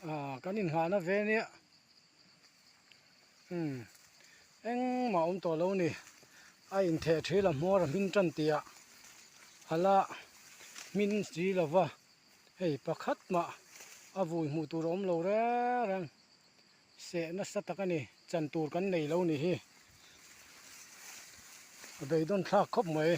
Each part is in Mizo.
ah kan inhahna ve aniah imm engmah a awm tawh lo ni a intheh ṭhi lam hmawr a hming ṭan tih ah a la hmin si lo va hei pakhat mah a vui hmuh tur a awm lo reng reng seh nasa tak a ni chan tur kan nei lo ni hi a beidawn thlak khawp mai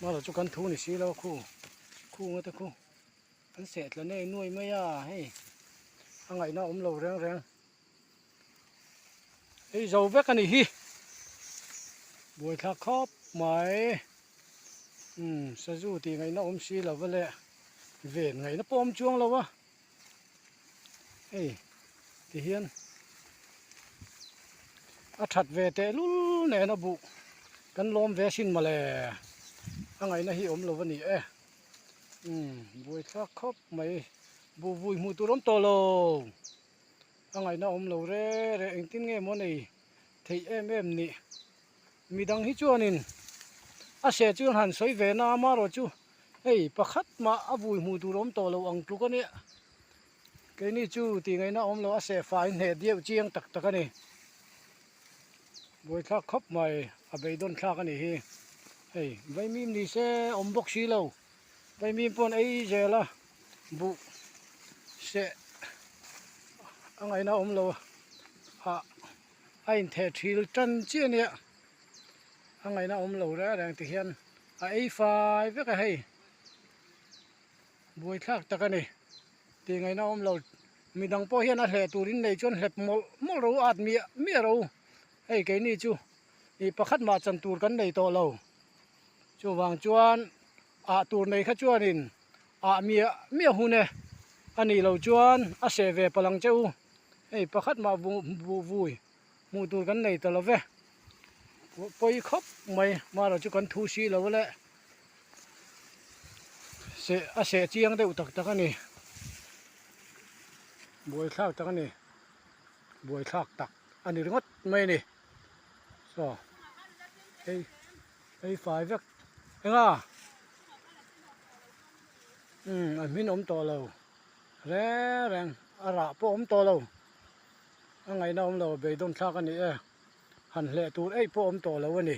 mahlo chu kan thu ni si lo khu khu nga te khu. An seh tla nei nuai mai a hei a ngaihna a awm lo reng reng hei zo vek a nih hi buai thlak khawp mai umm sazu tih ngaihna awm si lo va le ven ngaihna pawh awm chuang lo a hei ti hian a that ve teh lul nen a buh kan lawm ve sin mawle a ngaihna hi awm lo va ni e. umm buai thlak khawp mai buhvui hmuh tur awm tawh lo a ngaihna awm lo re re engtin nge maw nei theih em em ni mi dang hi chuanin a hria chu han sawi ve na amarawhchu hei pakhat mah a vui hmuh tur awm tawh lo ang tluk a nia. Keini chu tih ngaihna a awm lo a seh fai hneh deuh chiang tak tak a ni buai thlak khawp mai a beidawn thlak a nih hi hei vaimim ni se a awm bawk si lo vaimim pawn aizel a buh seh a ngaihna a awm lo a a intheh thil tan chiah ania a ngaihna a awm lo reng reng ti hian a ei fai vek a hei. Buai thlak tak a ni. Tih ngaihna a awm lo. Midang pawh hian a hleh turin nei chuan hlep mawlh mawlh ro at miah miah ro. Hei keini chu ih pakhat mah chan tur kan nei tawh lo. Chuvang chuan ah tur nei kha chuanin ah miah miah hun e. A nih loh chuan a seh ve palang che u. Hei pakhat mah buh buh vui. hmuh tur kan nei ta lo ve pawi khawp mai mahlo chu kan thu si lo aleh seh a seh chiang deuh tak tak a ni buai thlak tak a ni buai thlak tak a ni ringawt mai a ni saw hei hei fai vek enga imm an hming awm tawh lo reng reng a rah pawh awm tawh lo. A ngaihna awm lo, beidawnthlak a ni e. Han hleh tur ei pawh awm tawh lo a ni.